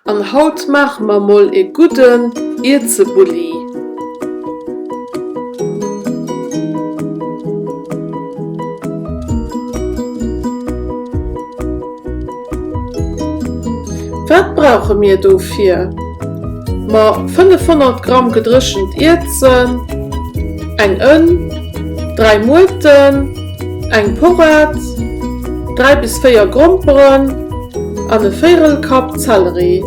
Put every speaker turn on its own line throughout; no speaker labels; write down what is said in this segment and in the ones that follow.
An haut maache mer mol ee gudden Ierzebulli. Wat brauche mir dofir? Mer 500 Gramm gedréchent Ierzen, eng Ënn, 3 Muerten, eng Porad, 3 bis 4 Gromperen an e véirel Kapp Zelleri.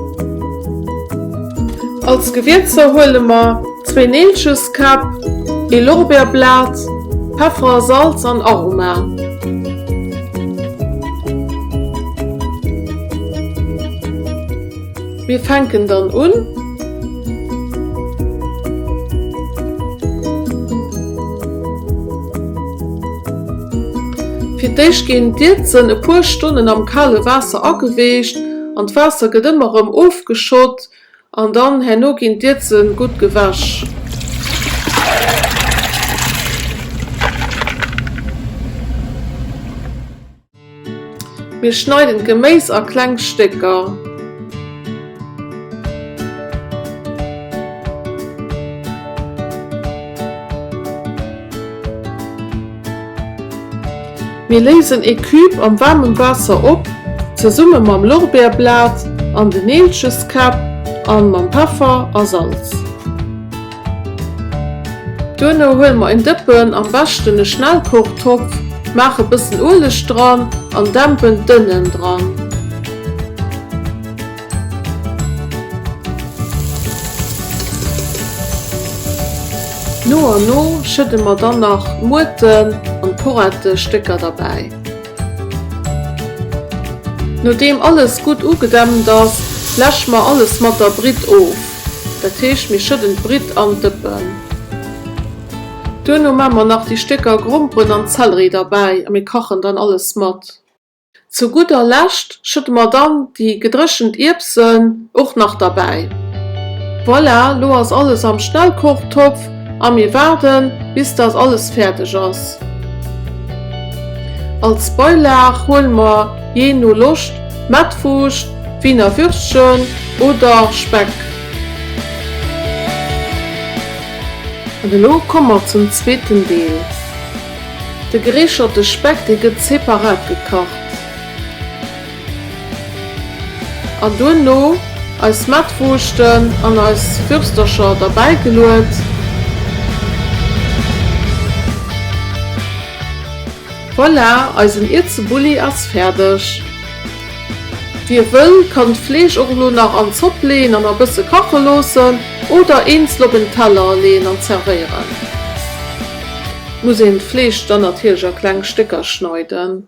Als Gewierzer huele mer zwee Neelcheskäpp, ee Lorbeerblat, Peffer, Salz an Aroma. Mir fänken dann un. Fir d'éischt ginn d'Ierzen e puer Stonnen am kale Waasser ageweecht an d'Waasser gëtt ëmmer erëm ofgeschott an dann herno ginn d'Ierze gutt gewäsch. Mir schneiden d'Geméis a kleng Stécker. Mir léisen ee Cube am waarmem Waasser op, zesumme mam Lorbeerblat an den Neelcheskäpp an mam Peffer a Salz. Duerno huele mer en Dëppen, am beschten e Schnellkochtopf, maache e bëssen Ueleg dran an dämpen d'Ënnen dran. No an no schëdde mer dann nach d'Muerten an d'Porettestécker derbäi. Nodeem alles gutt ugedämpt ass, läsche mer alles mat der Britt of. Dat heescht, mir schëdden d'Britt an d'Dëppen. Duerno maan mer nach déi Stécker Gromperen an Zellerie derbäi a mir kachen dann alles mat. Zu gudder Lescht Schudde mer dann déi gedréchent Ierbsen och nach derbäi. Voilà, lo ass alles am Schnellkochtopf a mir waarden bis dat alles fäerdeg ass. Als Beilaag huele mer jee no Loscht Mettwurscht, Wiener Würstchen oder Speck. An elo komme mer zum zweeten Deel. De gereecherte Speck, dee gëtt separat gekacht. An duerno eis Mettwurschten an eis Würstercher derbäi geluet. Voilà, eisen Ierzebulli ass fäerdeg. Wie wëll, kann d'Fleesch och elo nach an d'Zopp leeën an e bësse kache loossen oder eenzel op en Teller leeën an zerwéieren. Muss een d'Fleesch dann natierlech a kleng Stécker schneiden.